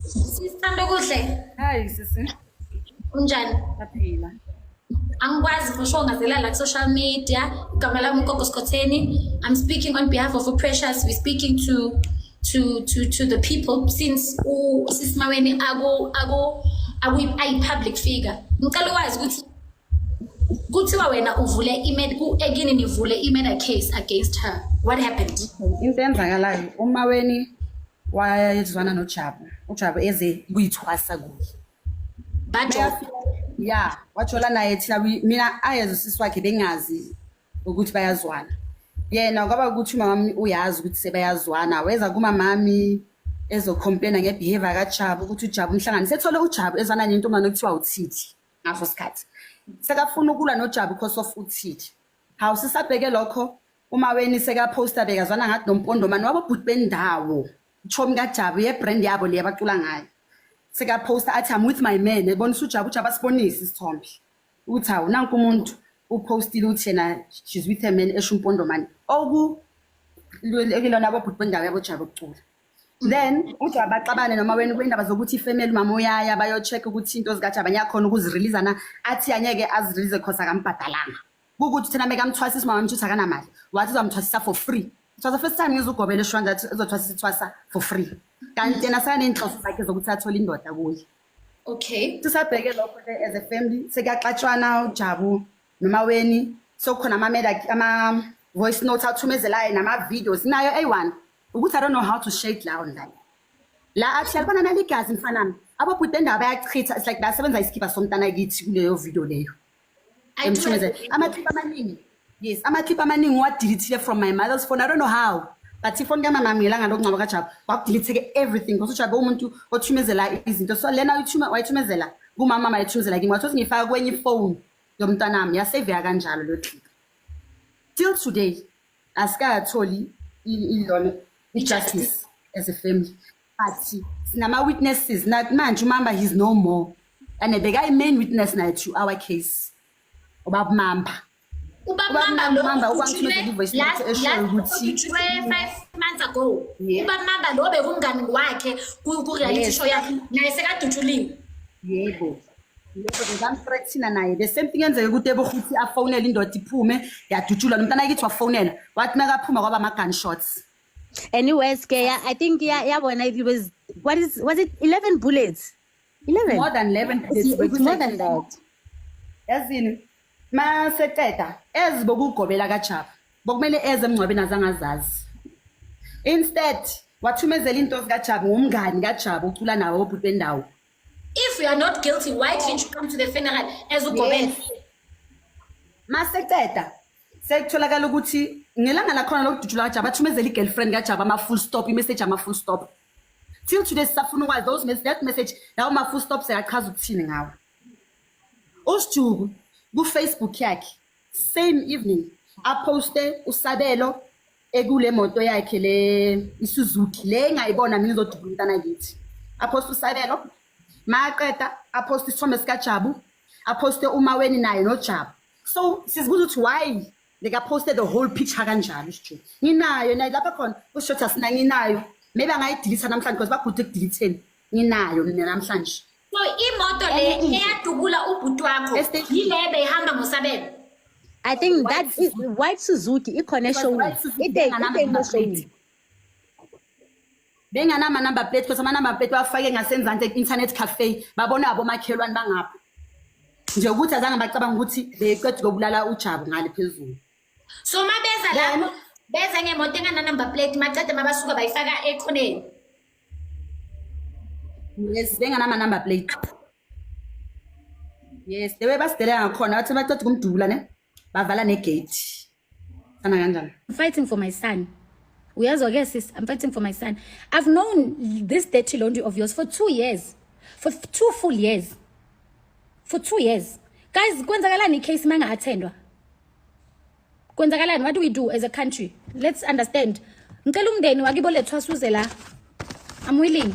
Sithanda kuhle. Hayi sisi. Unjani? Aphila. angikwazi for sure ngazela la ku-social media igama lami ugogo sikhotheni i'm speaking on behalf of uprecious we're speaking to to to to the people since usisimaweni ayi-public figure ngicela ukwazi ukuthi kuthiwa wena uvule ekini nivule i-murder case against her what happened into eyenzakalayo umaweni wayezwana nojabu ujabu eze kuyithwasa kuye ya wajola naye thina mina ayeze usisi wakhe bengazi ukuthi bayazwana yena kwaba ukuthi umamami uyazi ukuthi sebayazwana weza kumamami ezocomplaina ngebehavior kajabu ukuthi ujabu umhlangani sethole ujabu ezwana nentombane okuthiwa uthithi ngaso sikhathi sekafuna ukulwa nojabu because of uthithi hawu sisabheke lokho umaweni sekaposta bekazwana ngathi nompondomane wabobhuti bendawo chomi kajabu yebrand yabo le abacula ngayo sekaposta athi am with my man ebonisa ujabu ujabu asibonise isithombe ukuthi hawu nanku umuntu upostile ukuthi yena she's with her man esho umpondomane oku kulona abobhuti bendawo yabojabu ukucula then ujabu baxabane noma wena kwindaba zokuthi ifamily umama uyaya bayo-check ukuthi into zikajabu anyakhona ukuziriliza na athi anyeke azirilize cause akambhadalanga kukuthi thina mekamthwasisa umama mthuthi akanamali wathi uzamthwasisa for free it was the first time ngizugobela eshwanda athi uzothwasisa ithwasa for free kanti yena sekaney'nhloso zakhe zokuthi athole indoda kuye okay sisabheke lokho ke as a family sekuyaxatshwana ujabu nomaweni sokukhona amamela ama-voice note athumezelayo nama-videos nayo eyi-one ukuthi i don't know how to shake la online la athi alibona naligazi mfanami ababhuti endaba bayachitha it's like basebenza isikhipha somntana kithi kuleyo video leyo amakhipha amaningi yes amakhipha amaningi uwadilithile from my mother's phone i don't know how but ifoni kamamami ngelanga lokungcwaba kajabu kwakudilitheke everything because ujabe umuntu othumezela izinto so lena wayithumezela kumama mayethumezela kimi wathi ngifaka kwenye ifoni yomntanami yaseveka kanjalo lo clip till today asikatholi ilona i-justice as a family Athi sinama witnesses not manje umamba he's no more. And beka i main witness naye to our case. Ubaba Mamba. Ubaba Ubaba Mamba Mamba, Mamba lo ukwangithumela ukhutshwe i-voice last note eshoyo last ukuthi- ukhutshwe 5 months ago. Yeah. Ubaba Mamba lo bekumngani wakhe ku ku reality Yes. show yakhe naye sekadutshuliwe. Yebo. Yebo bekamthreathina naye. The same thing enzeke kuTebo ukuthi afonele indoda iphume yadutshulwa lo mntana kithi wafonela. Wathi makaphuma kwaba ama gunshots. Anyways, Kaya, I think yeah, yeah, when it was what is was it eleven bullets? Eleven. More than 11 It's, bullets, it's because more I- than that. yazini ma seqeda ezi bokugobela kajaba bokumele eze emngcwabeni azange azazi instead wathumezela into zikajaba ngumngani kajaba ucula nawo obhuti bendawo If you are not guilty, why didn't you come to the funeral as ugobela? ma seqeda sekutholakala ukuthi ngelanga lakhona lokudutshulwa kajaba athumezela i-girlfriend kajaba ama-full stop imessage ama-full stop till today sisafuna ukwazi those mes that message lawo ma-full stop seyachaza ukuthini ngawo usijuku kufacebook yakhe same evening aposte usabelo ekule moto yakhe le isuzuki le engayibona mina izodubula umntana kithi aposte usabelo maqeda aposte isithombe sikajabu aposte umaweni naye nojabu so sizibuza ukuthi why likaposte the whole picture kanjani usho nginayo nayo lapha khona usho ukuthi asina nginayo maybe angayidilitha namhlanje because bagude ekudilitheni nginayo mina namhlanje so imoto le eyadubula ubhuti wakho yile beyihamba ngosabelo I think that is white Suzuki ikhona eshowini. Ite ngana ngana benganama number plate because ama number plate bafake ngasenzansi internet cafe babona abomakhelwane bangapha nje ukuthi azange bacabanga ukuthi beqeda ukubulala uJabu ngale phezulu so mabeza lapho beza ngemoto engana number plate macede mabasuka bayifaka ekhoneni yes benganama number plate yes dewe basidelela ngakhona bathi baceda ukumdubula ne bavala negate sana kanjani I'm fighting for my son uyazwa ke sis I'm fighting for my son I've known this dirty laundry of yours for two years for two full years for two years guys kwenzakalani icase manga attendwa kwenzakalani what do we do as a country let's understand ngicela umndeni wakibo lethwasuze la I'm willing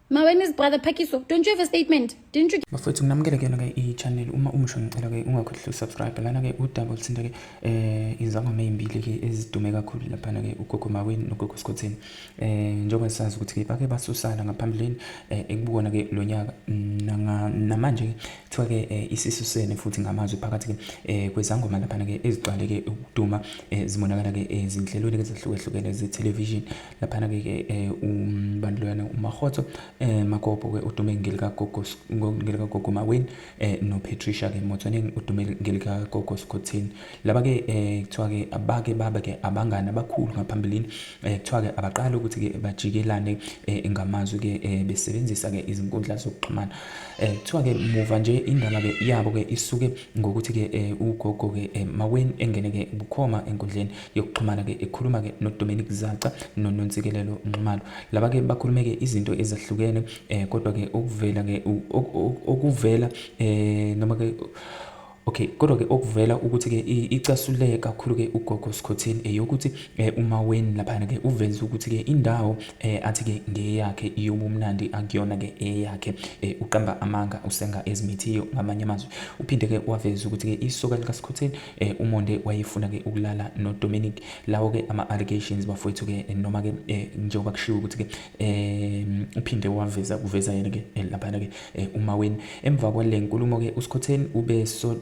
Ma when is brother Phakiso? Don't you have a statement? Didn't you Bafowethu nginamukele kuyona ke i-channel uma umusho ngicela ke ungakhohlwa usubscribe lana ke udaba oluthinta ke eh izangoma ezimbili ke ezidume kakhulu lapha ke ugogo Maweni nogogo Skhotheni eh njengoba sazi ukuthi ke bake basusana ngaphambilini eh, ekubona ke lonyaka mm, namanje ke kuthiwa ke eh, isisusene futhi ngamazwi phakathi ke eh, kwezangoma lapha ke eziqale ke ukuduma zimonakala ke ezinhlelweni ezahlukehlukene ze television laphana-ke ke um bantu loyana umarhotso um magobo-ke udume ngelikagogo maweni um nopatricia-ke motswaneng udume ngelikagogo sikhotheni laba-ke um kuthiwa-ke abake babe-ke abangani abakhulu ngaphambilini um kuthiwa-ke abaqale ukuthi-ke bajikelane um ngamazwi-ke um besebenzisa-ke izinkundla zokuxhumana um kuthiwa-ke muva nje indaba-ke yabo-ke isuke ngokuthi-ke um ugogo-ke um maweni engene-ke bukhoma enkundleni yokuxhumana-ke ekhuluma-ke nodominic zaca nononsikelelo nxumalo laba-ke bakhulume-ke izinto ezahlukene um kodwa-ke okuvela-ke okuvela um noma-ke Okay kodwa-ke okuvela ukuthi-ke icasuleke kakhulu-ke ugogo Skhotheni eyokuthi eh, umaweni laphana-ke uveze ukuthi-ke indawo eh, athi-ke ngeyakhe iyobumnandi akuyona-ke eyakhe eh, uqamba amanga usenga ezimithiyo ngamanye amazwi uphinde-ke waveza ukuthi-ke isoka likaSkhotheni eh umonde wayefuna ke ukulala no Dominic lawo ke ama allegations bafowethu ke eh, noma ke eh, njengoba kushiwo ukuthi ke eh uphinde waveza kuveza yena ke eh, lapha ke eh, uma weni emva kwale nkulumo ke uSkhotheni ube so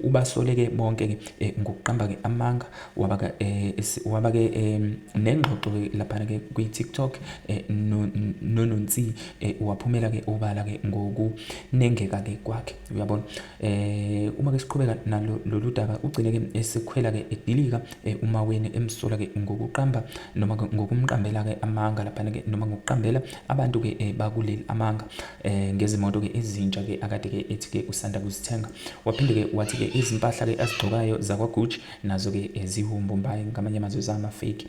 ubasoleke bonke ke eh, ngokuqamba ke amanga waba ke eh, waba ke eh, nengxoxo ke lapha ke kwi TikTok eh, no nononsi eh, waphumela ke obala ke ngokunengeka ke kwakhe uyabona Eh uma ke siqhubeka nalo lolu daba ugcine ke esekhwela ke edilika eh, umaweni emsola ke ngokuqamba noma ngokumqambela ke amanga lapha ke noma ngokuqambela abantu ke eh, bakuleli amanga eh, ngezimoto ke ezintsha ke akade ke ethi ke usanda kuzithenga waphinde ke wathi ke izimpahla ke azigcokayo zakwa Gucci nazo ke ezihumbu mbayi ngamanye amazwi zama fake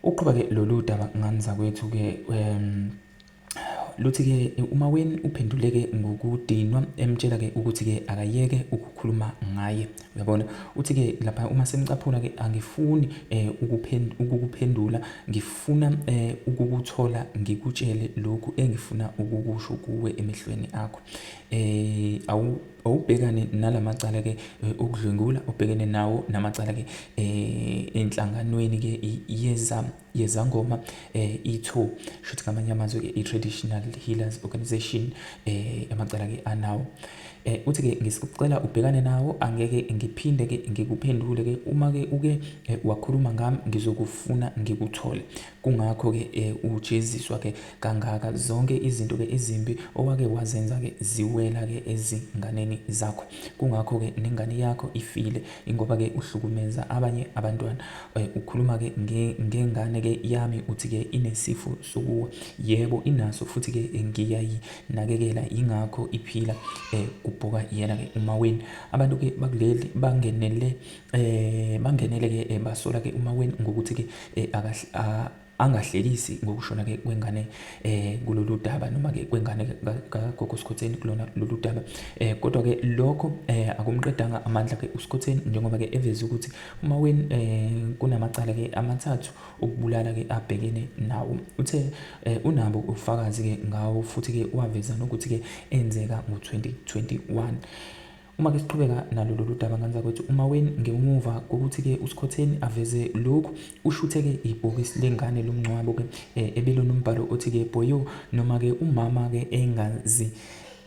Uqhuba ke lolu daba ngani zakwethu ke um luthi-ke umaweni uphenduleke ngokudinwa emtshela-ke ukuthi-ke akayeke ukukhuluma ngaye uyabona uthi-ke lapha uma sengicaphuna-ke angifuni um ukukuphendula ngifuna um ukukuthola ngikutshele lokhu engifuna ukukusho kuwe emehlweni akho um Ubhekane nala macala ke eh, okudlwengula obhekene nawo namacala ke eh, enhlanganweni ke yeza yezangoma eh, itho shuthi ngamanye amazwi ke i-traditional healers organization eh, amacala ke anawo eh, uthi ke ngisicela ubhekane nawo angeke ngiphinde ke ngikuphendule ke uma ke uke eh, wakhuluma ngami ngizokufuna ngikuthole Kungakho ke e, ujeziswa ke kangaka zonke izinto ke ezimbi owake wazenza ke ziwela ke ezinganeni zakho. Kungakho ke nengane yakho ifile ingoba ke uhlukumeza abanye abantwana. E, ukhuluma ke ngengane ke yami uthi ke inesifo sokuwa. Yebo inaso futhi ke ngiyayinakekela yingakho iphila e, kubhoka yena ke umaweni. Abantu ke bakuleli bangenele Eh bangenele ke eh, basola ke uma wen ngokuthi ke eh, angahlekisi ngokushona ke kwengane eh kulolu daba noma ke kwengane kagogo Skhotheni kulona lolu daba eh kodwa ke lokho eh akumqedanga amandla ke uSkhotheni njengoba ke eveze ukuthi uma wen eh kunamacala ke amathathu ukubulala ke abhekene nawo uthe eh, unabo ufakazi ke ngawo futhi ke waveza nokuthi ke enzeka ngo2021 Uma ke siqhubeka nalo lolu daba ngane zakwethu umaweni ngemuva kokuthi-ke usikhotheni aveze lokhu ushuthe-ke ibhokisi lengane lomngcwabo-ke um eh, ebelonombhalo othi-ke boyo noma-ke umama-ke engazi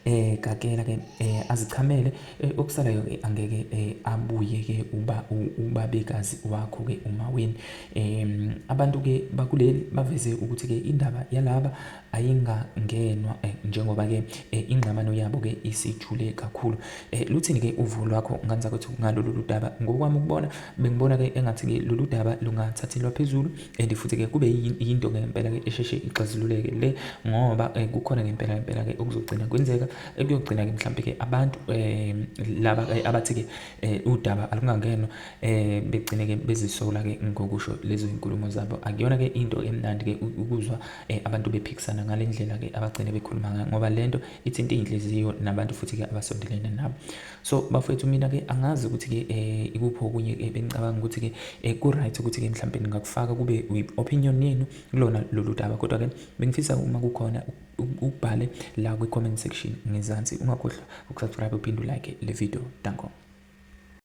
eh gakela ke eh azichamele eh, okusalayo ke angeke eh, abuye ke uba ubabekazi wakho ke uma wini em abantu ke bakuleli baveze ukuthi ke indaba yalaba ayingangenwa eh, njengoba ke eh, ingxabano yabo ke isijule kakhulu eh, luthini ke uvo lwakho ngane zakwethu ngalolu ludaba ngokwami ukubona bengibona ke engathi ke lolu daba lungathathelwa phezulu and futhi ke kube yinto ngempela ke esheshe ixazululeke le ngoba eh, kukhona ngempela ngempela ke okuzogcina kwenzeka ekuyogcina eh, ke mhlawumbe ke abantu eh, laba eh, abathi ke eh, udaba alungangenwa eh, begcine ke bezisola ke ngokusho lezo inkulumo zabo akuyona ke into emnandi ke ukuzwa eh, abantu bephikisana ngale ndlela-ke abagcine bekhuluma ngayo ngoba le nto ithinta iy'nhliziyo nabantu futhi-ke abasondelene nabo so bafowethu mina-ke angazi ukuthi-ke um ikuphi okunye eh, bengicabanga ukuthi-ke um ku-right ukuthi-ke mhlawumpe ningakufaka kube i-opinion yenu kulona lolu daba kodwa-ke bengifisa uma kukhona ubhale la kwi-comment section ngezansi ungakhohlwa ukusubscribe uphinde ulike le video danko